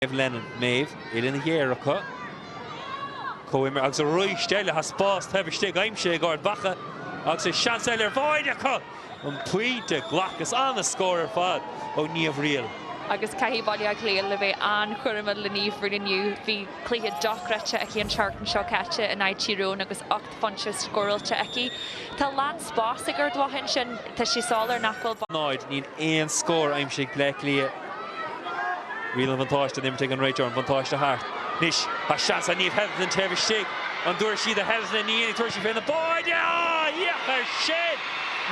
Maeve Lennon, Maeve, uillinn ghéar acu, comhimreoir agus arís eile tá spás taobh istigh aimsithe ag Ard Mhacha agus is seans eile ar bháide acu an pointe glactha is an-scór ar fad ó Niamh Reel. Agus caithfidh Baile Átha Cliath a bheith an-chúramach le Niamh Reel inniu. Bhí cluiche dochreidte aici an tseachtain seo caite in aghaidh Tír Eoghain agus phointe scóráilte aici. Tá lán spás ag Ard Mhacha ansin. Tá sé soiléir nach bhfuil. 0, Níl aon scór aimsithe ag Bleá Cliath. Riail an bhuntáiste in imirt ag an réiteoir, an bhuntáiste thart. Anois tá seans ag Niamh Hetherton taobh istigh. An dtabharfaidh sí do Hetherton? Ní dhéanfaidh, tabharfaidh sí fén mbáide! Féach air sin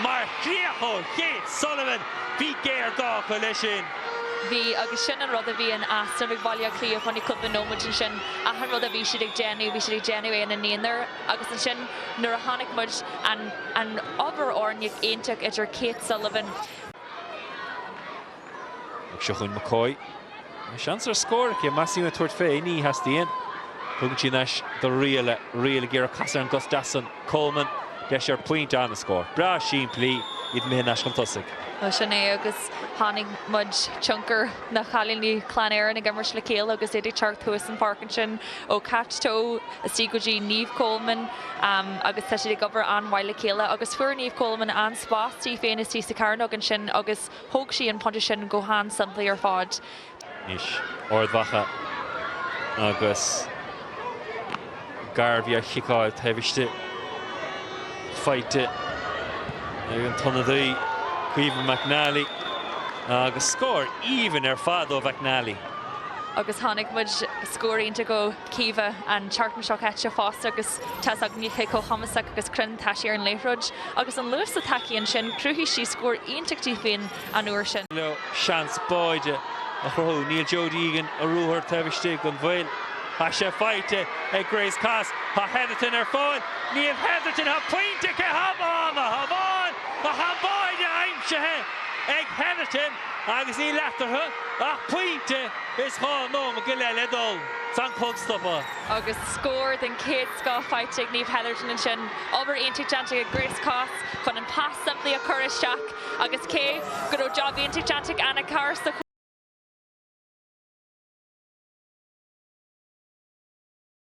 mar chríoch ó Kate Sullivan, bhí géarghá acu leis sin. bhí, agus sin an rud a bhí in easnamh ag Baile Átha Cliath fá choinne cúpla nóiméad ansin, achan rud a bhí siad ag déanamh, bhí siad ag déanamh é ina n-aonar, agus ansin nuair a chonaic muid, an, an obair fhoirne iontach idir Kate Sullivan, Ag seo chugainn McCoy. Tá seans ar scór aici, más fiú tabhairt fé, ní theastaíonn. Tugann sí thar n-ais do Reel, Reel ag iarraidh casadh ar an gcos deas san. Coleman, deis ar pointe an-scór breá simplí, iad imithe thar n-ais chun tosaigh. Bhuel, sin é agus chonaic muid tionchar na cailíní Chlann Éireann ag imirt le chéile agus iad ag teacht thuas an pháirc ansin ó Cait Towe istigh go dtí Niamh Coleman agus tá siad ag obair an-mhaith le chéile agus fuair Niamh Coleman an spás di féin istigh sa chearnóg ansin agus thóg sí an pointe sin go han-simplí ar fad. Anois Ard Mhacha agus Garvey á chiceáil taobh istigh. Faighte ag an t-ionadaí, Caoimhe McNally, agus scór aoibhinn ar fad ó McNally. Agus chonaic muid scór iontach ó Caoimhe an tseachtain seo caite fosta agus tá fhios againn cé chomh cumasach agus cruinn atá sí ar an liathróid. Agus an luas atá aici ansin, chruthaigh sí scór iontach di féin. an uair sin. nó seans báide a chruthú. Níl Jodie Egan, ar ruathar taobh istigh gan mhoill. Tá sé faighte ag Grace Kos. Tá Hetherton ar fáil. Niamh Hetherton, tá pointe aici. Hamháin a hamháin tá báide aimsithe ag Hetherton agus níl eatarthu ach pointe is dhá nóiméad go leith le dul san chlog stoptha. agus scór den chéad scoth faighte ag Niamh Hetherton ansin. Obair iontach déanta ag Grace Kos chun an pas simplí a chur isteach. agus cé go raibh job iontach déanta ag Anna Carr sa.